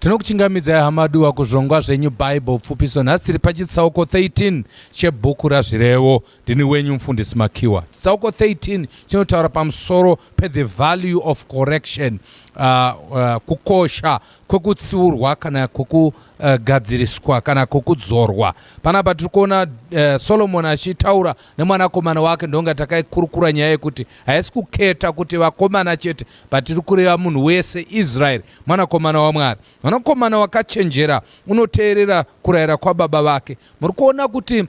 Tinokuchingamidzai hama duwa kuzvongwa zvenyu Bible pfupiso. Nhasi tiri pachitsauko 13 chebhuku raZvirevo. Ndini wenyu mufundisi Makiwa. Chitsauko 13 chinotaura pamusoro pe the value of correction, uh, uh, kukosha kwekutsiurwa kana kwekugadziriswa uh, kana kwekudzorwa. Panapa tiri kuona uh, Solomon achitaura nemwanakomana wake, ndonga takaikurukura nyaya yekuti haisi kuketa kuti vakomana chete Patiri kureva munhu wese, Israeri, mwanakomana waMwari, mwanakomana wakachenjera, unoteerera kurayira kwababa vake. Muri kuona kuti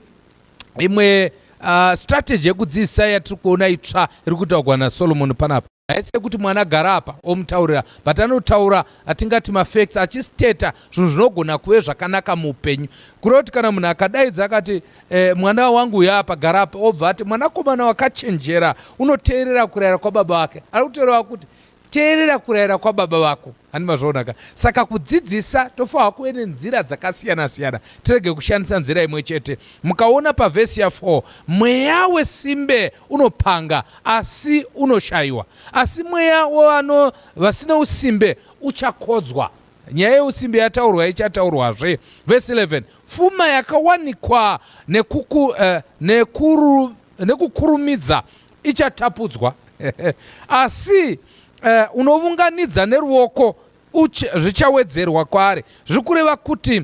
imwe uh, strategy yekudzidzisa yatiri kuona itsva iri kutaurwa naSolomoni panapa haisi yekuti mwana gara apa omutaurira but anotaura atingati mafacts achisteta zvinhu zvinogona kuve zvakanaka muupenyu kureva kuti kana munhu akadaidza akati Eh, mwana wangu uya apa gara apa obva ati mwanakomana wakachenjera unoteerera kurayira kwababa wake ari kutoreva kuti teerera kurayira kwababa vako handi mazvaonaka saka kudzidzisa tofanirwa kuve nenzira dzakasiyana siyana tirege kushandisa nzira imwe chete mukaona pavhesi ya 4 mweya wesimbe unopanga asi unoshayiwa asi mweya wevano vasina usimbe uchakodzwa Nyaya yeusimbe yataurwa ichataurwazve. Vhesi 11 Pfuma yakawanikwa nekuku, uh, nekuru, nekukurumidza ichatapudzwa asi uh, unovunganidza neruoko zvichawedzerwa kwaari. Zviri kureva kuti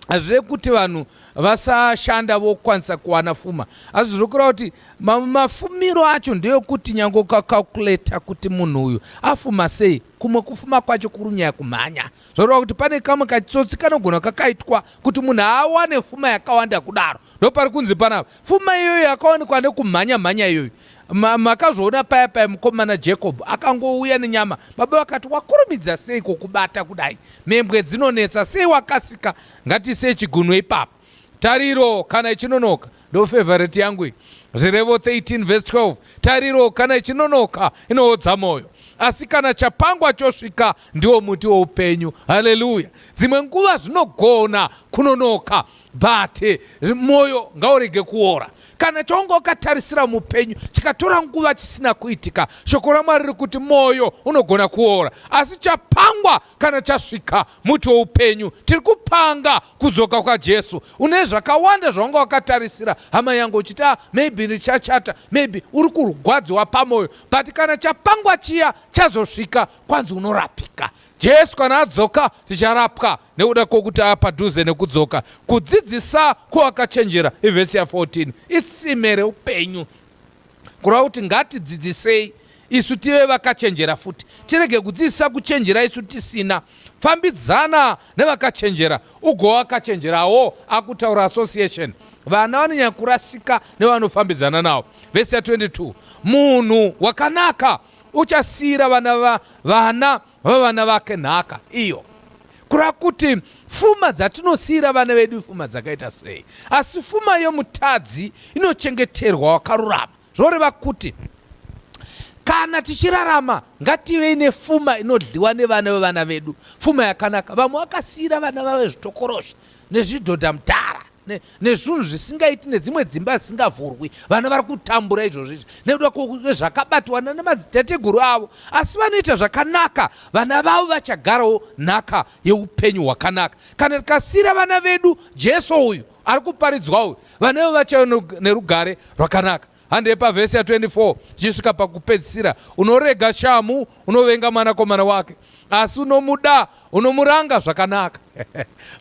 hazvire kuti vanhu vasashanda vokwanisa kuwana fuma asi zviri kureva kuti mafumiro acho ndeyokuti nyange ukacalculata kuti munhu uyu afuma sei kumwe kufuma kwacho kuri nyaya kumhanya zvoreva kuti pane kamwe kachitsotsi kanogona kakaitwa kuti munhu awane fuma yakawanda kudaro ndopari kunzi panapa fuma iyoyo yakawanikwa nekumhanya mhanya iyoyo Ma, makazvoona paya paya mukomana jacob akangouya nenyama baba vakati wakurumidza sei kokubata kudai mhembwe dzinonetsa sei wakasika ngatiisei chigunwe ipapo tariro kana ichinonoka ndo favorite yangu iyi zvirevo 13 vhesi 12 tariro kana ichinonoka inoodza mwoyo asi kana chapangwa chosvika ndiwo muti woupenyu haleluya dzimwe nguva zvinogona kunonoka but eh, moyo ngaurege kuora kana chaunga ukatarisira mupenyu chikatora nguva chisina kuitika shoko ramwari riri kuti moyo unogona kuora asi chapangwa kana chasvika muti weupenyu tiri kupanga kudzoka kwajesu une zvakawanda zvawanga wakatarisira hama yangu uchiti ah, maybe richachata maybe uri kurwadziwa pamoyo but kana chapangwa chiya chazosvika kwanzi unorapika jesu kana adzoka ticharapwa nekuda kwokuti ava padhuze nekudzoka kudzidzisa kwowakachenjera ivhesi ya 14 itsime reupenyu kureva kuti ngatidzidzisei isu tive vakachenjera futi tirege kudzidzisa kuchenjera isu tisina fambidzana nevakachenjera ugowakachenjerawo akutaura association vana vanonyanya kurasika nevanofambidzana navo vhesi ya 22 munhu wakanaka uchasiyira vana va, vana vavana vake nhaka iyo kureva kuti fuma dzatinosiira vana vedu ifuma dzakaita sei asi fuma yomutadzi inochengeterwa wakarurama zvoreva kuti kana tichirarama ngativei nefuma inodliwa nevana vevana vedu fuma yakanaka vamwe vakasiira vana vave zvitokorozvi nezvidhodha mudhara ne, nezvinhu zvisingaiti nedzimwe dzimba dzisingavhurwi vana vari kutambura izvozvo izvi nekuda kwezvakabatwana nemadzitateguru avo asi vanoita zvakanaka vana vavo vachagarawo nhaka yeupenyu hwakanaka kana tikasiira vana vedu jesu uyu ari kuparidzwa uyu vana vedu vachave nerugare rwakanaka Handei pavhesi ya24 zvichisvika pakupedzisira. Unorega shamhu, unovenga mwanakomana wake, asi unomuda, unomuranga zvakanaka.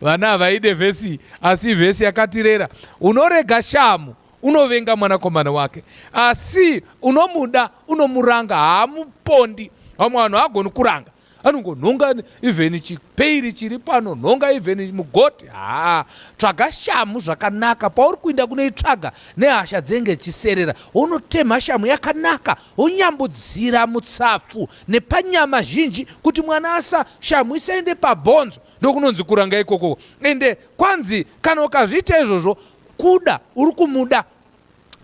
Vana havaide vhesi, asi vhesi yakatirera. Unorega shamhu, unovenga mwanakomana wake, asi unomuda, unomuranga, haamupondi. Vamwe vanhu haagoni kuranga. anongonhonga even chipeiri chiri pano nhonga even mugoti haa tsvaga shamu zvakanaka pauri kuinda kunoitsvaga nehasha dzenge chiserera wonotemha shamu yakanaka wonyambudzira mutsapfu nepanyama zhinji kuti mwana asa shamu isaende pabhonzo ndokunonzi kuranga ikokoko ende kwanzi kana ukazviita izvozvo kuda uri kumuda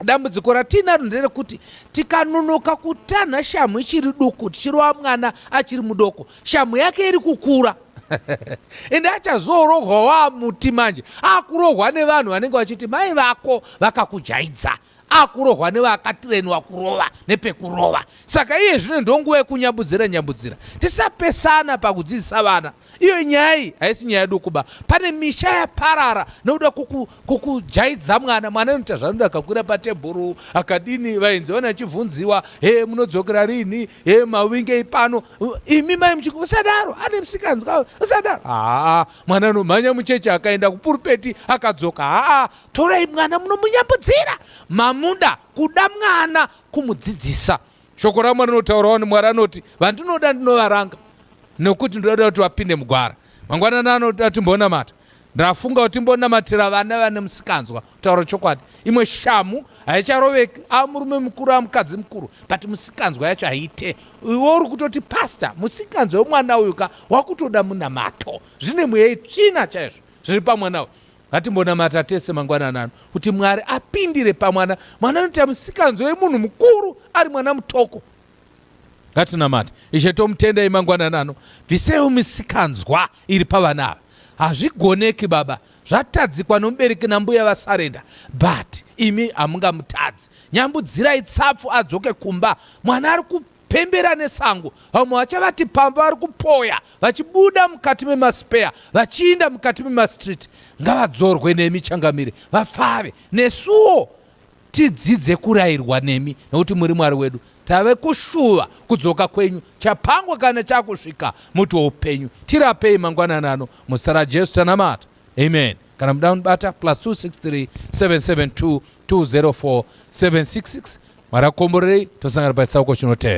Dambudziko ratinaro nderekuti tikanonoka kutanha shamhu ichiri duku tichirova mwana achiri mudoko shamhu yake iri kukura ende achazoorohwa waamuti manje akurohwa nevanhu vanenge vachiti mai vako vakakujaidza akurohwa nevakatirenwa kurova nepekurova saka iye zvino ndonguva yekunyabudzira nyabudzira tisapesana pakudzidzisa vana Iyo nyaya iyi haisi nyaya dukuba. Pane misha yaparara nokuda kukujaidza mwana. Mwana anoita zvanoda akakwira patebhuru akadini vainzi vana achivhunziwa he munodzokera rini he mawingei pano imi mai muchiki usadaro ane msikanzwa usadaro haa mwana anomhanya mucheche akaenda kupurupeti akadzoka haa torai mwana munomunyambudzira mamuda kuda mwana kumudzidzisa Shoko raMwari rinotaurawo ni Mwari anoti vandinoda ndinovaranga nokuti ndinoda kuti vapinde mugwara. Mangwanani anoda timbonamata. Ndafunga kuti timbonamatira vana vane musikanzwa kutaura chokwadi. Imwe shamu haicharoveki amurume mukuru amukadzi mukuru but musikanzwa yacho haite. Iwe uri kutoti pastor musikanzwa wemwana uyu ka wakutoda munamato. Zvine mweya itsvina chaizvo zviri pamwana uyu. Ngatimbonamata tese mangwanani ano kuti Mwari apindire pamwana. Mwana anoita musikanzwa wemunhu mukuru ari mwana mutoko. Ngatinamate. Ishe tomutendai mangwanani ano. Bviseiwo misikanzwa iri pavana ava. Hazvigoneki baba. Zvatadzikwa nomubereki nambuya vasarenda. But imi hamungamutadzi. Nyambudzirai tsapfu adzoke kumba. Mwana ari Pembera nesango vamwe vachavati pamba vari kupoya vachibuda mukati memaspeya vachiinda mukati memastreet ngavadzorwe nemi changamire vapfave nesuwo tidzidze kurayirwa nemi nokuti muri mwari wedu tave kushuva kudzoka kwenyu chapangwa kana chakusvika muti weupenyu tirapei mangwanani ano muzita rajesu tanamata amen kana muda kunibata plus 263 772 204 766 mwari akomborerei tosangana pachitsauko chinotevera